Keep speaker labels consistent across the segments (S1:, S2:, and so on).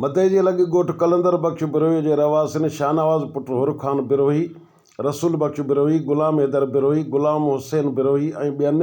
S1: متي جي لڳ ڳوٺ قلندر بخش بروهي جي رهواسين شاهنواز پٽ حر خان بروهي، رسول بخش بروهي، غلام حيدر بروهي، غلام حسين بروهي ۽ ٻين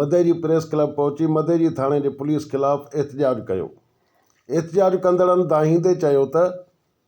S1: متي جي پريس ڪلب پهچي متي جي ٿاڻي جي پوليس خلاف احتجاج ڪيو. احتجاج ڪندڙن دانهيندي چيو ته.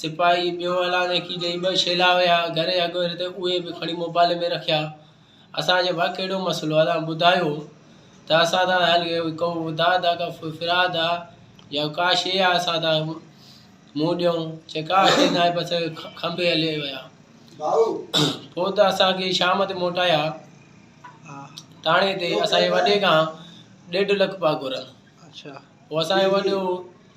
S2: سپاهي ٻيو اعلان ايڪي ڏئي ٻه شيلا ويا گهري اڳهري تي اهي به کڻي موبائل ۾ رکيا اسان چيو ڀا ڪهڙو مسئلو اسان ٻڌايو ته اسان سان هل ڪو داد آ ڪا فراد آ يا ڪا شيء آ اسان سان منهن ڏيون چي ڪا شيء ناهي بس کنڀي هلي ويا پوء ته اسان کي شام تي موٽايا ٿاڻي تي اسان جي وڏي کان ڏيڍ لک پاء گهرن اڇا پوء
S3: اسان جو وڏو